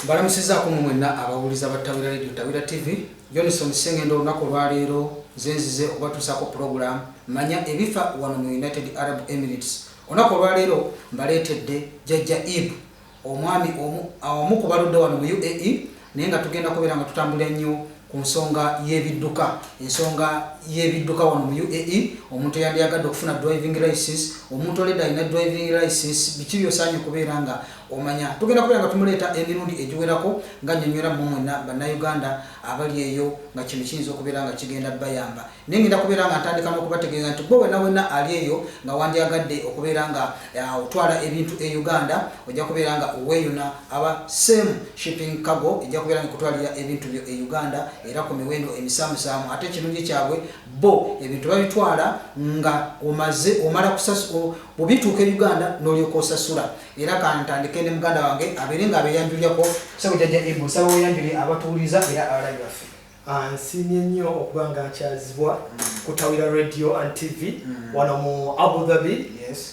mbalamusizaako mu mwenna abawuliza ba tawira radio tawira tv johnson sengendo olunaku olwaleero zenzize okubatuusaako pulogulamu manya ebifa wano mu united arab emirates olunaku olwaleero mbaleetedde jajja ib omwami omu ku baludde wano mu uae naye nga tugenda kubeera nga tutambulira nnyo ku nsonga y'ebidduka ensonga y'ebidduka wano mu uae omuntu eyandyagadde okufuna driving license omuntu oledde alina driving license biki byosaanye okubeera nga Omanya tugenda kubeera nga tumuleeta emirundi egiwerako nga nnyonyola mmwe mwenna Bannayuganda abali eyo nga kino kiyinza okubeera nga kigenda bayamba. Naye ngenda kubeera nga ntandika n'okubategeeza nti ggwe wenna wenna ali eyo nga wandyagadde okubeera nga ah, otwala ebintu e Uganda ojja kubeera nga weeyuna aba Same Shipping Cargo ejja kubeera nga kutwalira ebintu byo e Uganda era ku miwendo emisaamusaamu ate ekirungi kyabwe bo ebintu babitwala nga omaze omala kusasula bwebituuka e Uganda n'olyoka osasula era kantandike ne muganda wange abeere nga abeyanjulyako sebo jajja ibu saba weyanjulye abatuwuliza era abalabi baffe ah, nsiimye nnyo okuba nga nkyazibwa mm. kutawira radio and tv mm. wano mu abu dhabi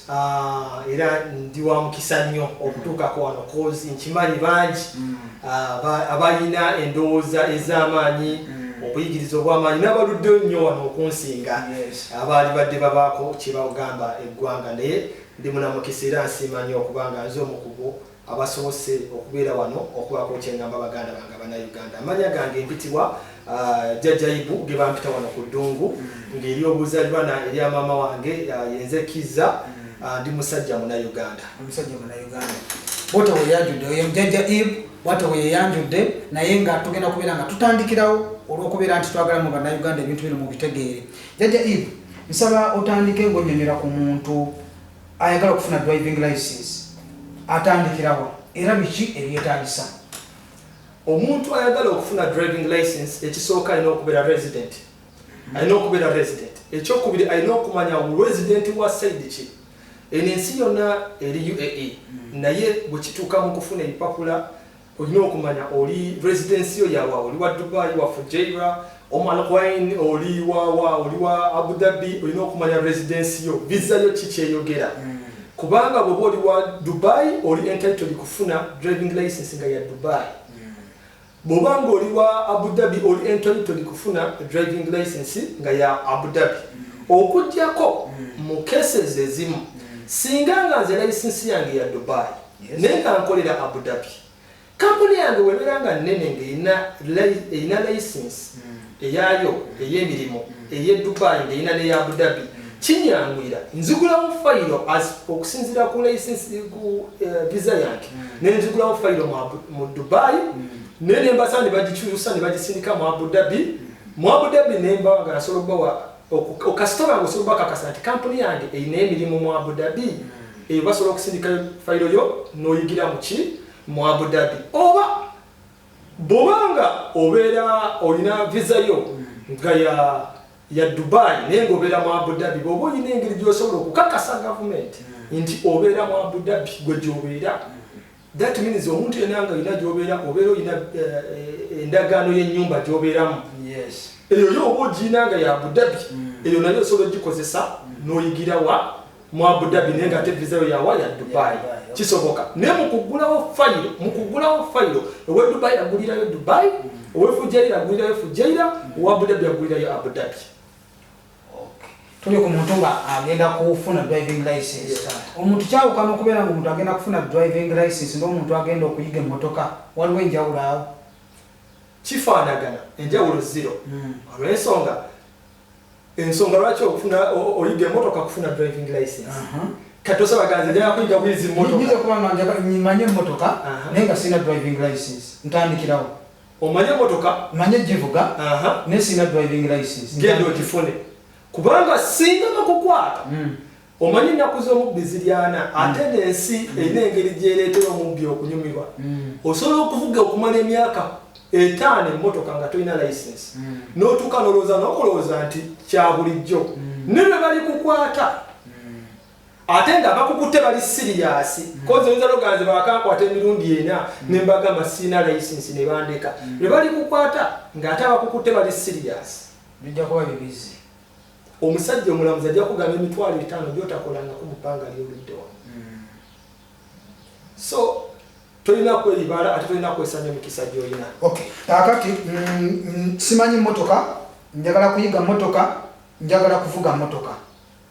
ah, era ndi wa mukisa nnyo okutuukako wano cause nkimanyi bangi mm. ah, abalina endowooza ez'amaanyi obuyigiriza obwamaanyi n'abaluddeyo nnyo wano okunsinga abaali badde babaako kyebagamba eggwanga naye Ndi munamukisa era nsiima nnyo okuba nga nze omu ku bo abasobose okubeera wano okubaako kye ngamba baganda bange Abannayuganda. Amannya gange mpitibwa Jjajja Ibu ge bampita wano ku ddungu ng'eri obuzaliranwa erya maama wange yenze Kizza. Ndi musajja Munayuganda. Omusajja Munayuganda. Bwota we yajudde oyo Jjajja Ibu bwata we yeyanjudde naye nga tugenda kubeera nga tutandikirawo olw'okubeera nti twagala mu Bannayuganda ebintu bino mubitegeere. Jajja Eve, nsaba otandike ng'onyonyola ku muntu ayagala okufuna driving license atandikirawa era biki ebyetagisa? Omuntu ayagala okufuna driving license ekisooka alina okubeera resident alina okubeera resident ekyokubiri alina okumanya resident wa saidi ki eno ensi yonna eri uae naye bwekituuka mu kufuna empapula olina okumanya oli residensi yo yawa oli wa dubai wa fujaira omalqwain oli wawa oli wa abu dhabi olina okumanya residensi yo visa yo kikyeyogera mm. kubanga bwoba oli wa dubai oli entitled kufuna driving license nga ya dubai mm. bwoba nga oli wa abu dhabi oli entitled kufuna driving license nga ya abu dhabi mm. okujjako mu cases ezimu singa nga nze license yange ya dubai naye nga nkolera Abu Dhabi kampuni yange webeera nga nnene ng'erina layisinsi hmm. eyaayo hmm. ey'emirimu hmm. ey'e Dubai ng'erina n'eya Abu Dhabi kinyangwira nzigulawo fayiro okusinziira ku layisinsi ku eh, visa yange ne nzigulawo fayiro mu Dubai naye ne mbasa ne bagikyusa ne bagisindika mu Abu Dhabi mu Abu Dhabi ne mbawa nga nasobola okubawa okasitoma nga osobola bakakasa nti kampuni yange erina emirimu mu abudabi hmm. eyo basobola okusindika fayiro yo n'oyigira muki mu abudabi oba bwobanga obeera olina visa yo hmm. nga ya ya dubai naye nga obeera mu abudabi bwoba olina engeri gyosobola okukakasa gavumenti hmm. nti obeera mu abudabi gwe gyobeera That means omuntu yena nga yina gyobeera obeera oyina eh, eh, endagaano y'ennyumba gyobeeramu eyo yo oba ogiina nga ya abudabi mm. eyo nayo osobola ogikozesa mm. n'oyigira wa mu abudabi naye nga ate vizayo yawa ya dubai kisoboka naye mukuggulawo fayiro mukuggulawo fayiro owe dubai agulirayo dubai mm. owe fujaira agulirayo fujaira owa abudabi agulirayo abudabi tuli ku muntu nga agenda kufuna driving license omuntu kyawukana okubeera nga omuntu agenda kufuna driving license n'omuntu agenda okuyiga emmotoka waliwo enjawulo awo kifaanagana enjawulo zero hmm. olwensonga ensonga lwaki okufuna oyiga emmotoka kufuna driving license kati osabaganza njagala kuyiga bwizi mmotoka nyimanye emmotoka naye nga sirina driving license ntandikirawo Omanyi emotoka? Manyi ogivuga naye sirina driving license. Genda ogifune kubanga singa bakukwata hmm. omanyi ennaku z'omubbi ziri ana hmm. ate n'ensi hmm. erina engeri gyereetera omubbi okunyumirwa. Osobola okuvuga okumala emyaka etaano emmotoka nga tolina license n'otuuka n'olowooza n'okulowooza nti kya bulijjo ne bwe balikukwata ate nga bakukutte bali siriyasi mm. kozi oyinza nogaa nze bakankwata emirundi ena mm. ne mbagamba siina layisinsi ne bandeka mm. lwe bali kukwata ng'ate abakukutte bali siriyasi bijja kuba bibizi omusajja omulamuzi ajja kugamba emitwalo etaano gyotakolangako mu bbanga lyoludde wano so tolina kweyibala ate tolina kwesanya emikisa gyolina kakati mm, simanyi motoka njagala kuyiga motoka njagala kuvuga motoka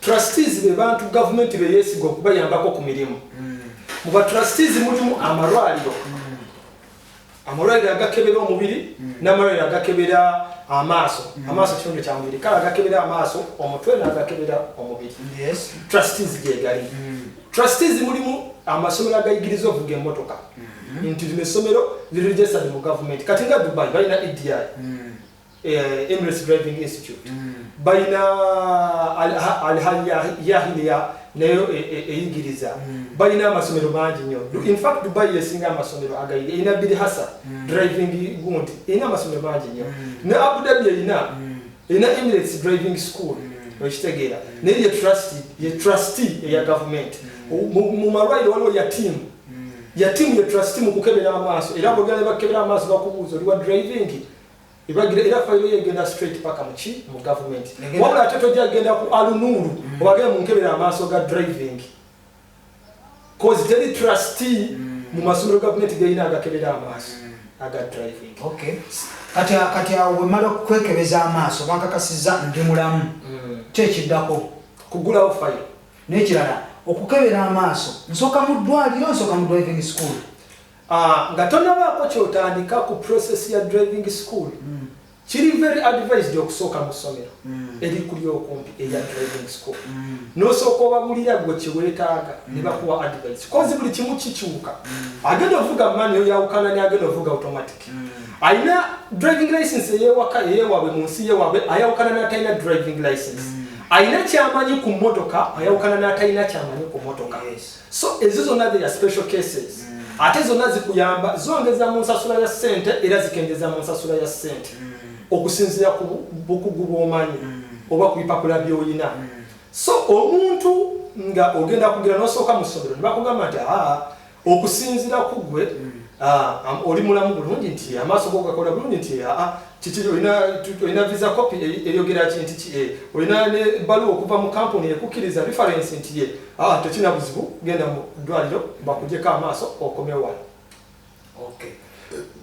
Trustees be bantu gavumenti be yeesiga okubayambako ku mirimu. Mm. Mu ba trustees mulimu amalwaliro. Mm. Amalwaliro agakebera omubiri mm. n'amalwaliro agakebera amaaso. Mm. Amaaso kitundu kya mubiri. Kale agakebera amaaso omutwe n'agakebera omubiri. Yes. Trustees gye gali. Mm. Trustees mulimu amasomero agayigiriza ovuga emmotoka. Mm. nti lino essomero lirigesadi mu gavumenti kati nga dubai balina edi mm. eh, Emirates Driving Institute mm. balina alhayahiliya nayo e, e, eyigiriza mm. balina amasomero mangi nyo infact dubai yesinga amasomero agayiri erina biri hasa mm. driving gundi erina amasomero mangi nyo ne abu dhabi erina erina Emirates Driving School okitegeera naye ye trust ye trustee eya government mu malwaliro waliwo ya team ya team ye trustee mu kukebera amaaso era bwogera ne bakebera amaaso bakubuuza oli wa driving ebagira era fayiro ye egenda straight paka muki mu gavumenti wabula ate tojja genda ku alunuulu mm. obagee munkebera amaaso ga driving cause teri trustee mm. mu masomero gavumenti geyina agakebera amaaso mm. aga driving kati awo bwemala okwekebeza amaaso bankakasiza ndi mulamu kyekiddako kugulawo fayiro nekirala okukebera amaaso nsooka mu ddwaliro nsooka mu driving school Aah nga tonabaako kyotandika ku process ya driving school kiri very advised okusooka mu ssomero erikuli okumpi erya driving school nosooka obabulira gwe kyewetaaga nebakuwa advice kozi buli kimu kikyuka agenda ovuga mani oyawukana ne agenda ovuga automatic alina driving license eyewaka eyewabwe mu nsi yewabwe ayawukana natalina driving license alina kyamanyi ku motoka ayawukana natalina kyamanyi ku motoka yes. so ezo zonna theya special cases mm. ate zonna zikuyamba zongeza mu nsasula ya ssente era zikengeza mu nsasula ya ssente mm. okusinzira ku bukugu bwomanyi mm. oba ku bipapula byolina mm. so omuntu nga ogenda kugira nosooka mu ssomero nebakugamba nti aa okusinzira ku gwe mm. ah, oli mulamu bulungi nti amaaso gogakola bulungi nti aa kiki olina olina visa copy eyogera ki nti ki eh, olina ne baluwa okuva mu kampuni ekukkiriza reference nti ye ah, tekina buzibu genda mu ddwaliro bakujeko amaaso okomewa okay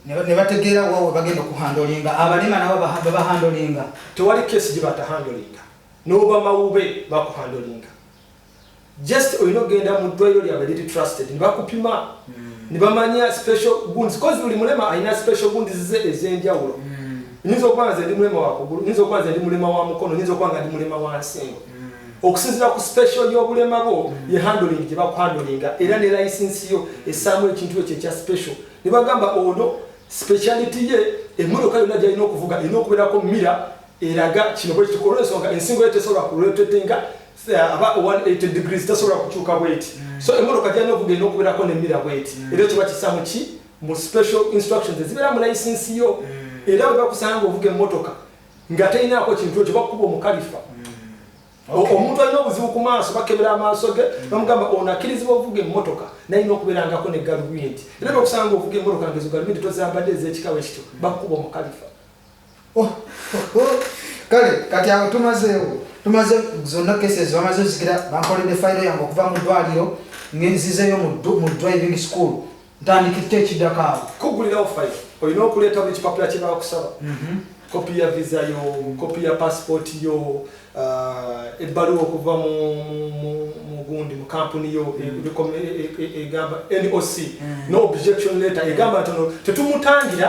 nebategeera wa webagenda okuhandolinga abalema nabo babahandolinga tewali kesi gyebatahandolinga noba mawube bakuhandolinga just olina okugenda mu ddwaliro lyabwe liri trusted nebakupima hmm. nebamanya special gundi kozi buli mulema alina special gundi zize ez'enjawulo hmm. nyinza okuba nga zendi mulema wakugulu nyinza okuba nga ndi mulema wa mukono nyinza okuba nga ndi mulema wa nsingo hmm. okusinzira ku special y'obulema bwo ye handling gye bakuhandolinga era ne licensi yo esaamu ekintu ekyo ekya special ne bagamba ono speciality ye emmotoka yonna gyalina okuvuga erina okubeerako mira eraga kino bwe kitukola ensonga ensingo yo tesobola kuletetenga aba 180 degrees tasobola kukyuka bweti mm. so emmotoka gyalina okugenda okubeerako nemira bweti mm. era kiba kisa muki mu special instructions ezibeera mu layisinsi yo mm. era bwe bakusanga ngaovuga emmotoka nga terinaako kintu ekyo bakukuba omukalifa omuntu alina obuzibu ku maaso bakebera amaaso ge bamugamba ono akkirizibwa ovuga emmotoka nalina okubeerangako ne galubindi era bwe bakusanga ngaovuga emmotoka ngezo galubindi tozambadde ezekikawe ekityo bakukuba omukalifa Oh, oh, oh. kale kati awo tumazeewo tumaze zonna kese zibamaze zikira bankoledde fayiro yange okuva mu ddwaliro ngenzizeyo mu driving school ntandikirte ekiddako awo kugulirawo fayiro olina okuleeta buli kipapula kyebakusaba mhm. kopi ya visa yo kopi ya passport yo ebbaluwa okuva mugundi mu kampuni yo egamba noc no objection letter egamba nti ono tetumutangira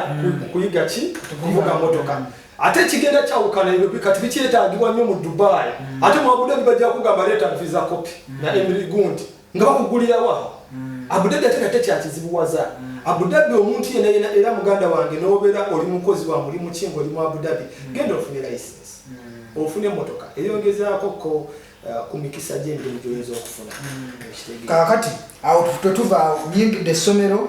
kuyiga ki kuvuga motoka ate ekigenda kyawukana ebyo kati bikyetagibwa nnyo mu dubai ate mwabudde bibajja kugamba leeta nfiza kopi na emiri gundi nga bakugulirawo awo mm. abudabi ate nate kyakizibuwaza mm. abudabi omuntu yena yena era muganda wange nobeera oli mukozi wa mulimu ki nga oli mu abudabi mm. genda ofune license mm. ofune emotoka eyongezaako ko uh, ku mikisa gyemirimu gyoyinza okufuna mm. kakati awo twetuvaawo nyingidde essomero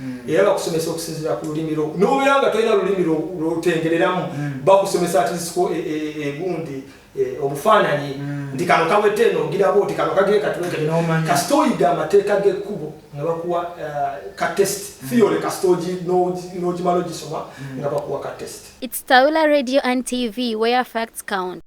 Mm. era bakusomesa okusinzira ku lulimi lwo nobeera nga tolina lulimi lwotengereramu mm. bakusomesa atisiko e, e, e, egundi obufaananyi mm. nti kano kawete eno ogiraba oti kano kageekatulekasita oyiga amateeka g'ekkubo nga bakuwa uh, ka test theory kasita n'ogimala ogisoma nga bakuwa ka test It's Taula Radio and TV where facts count.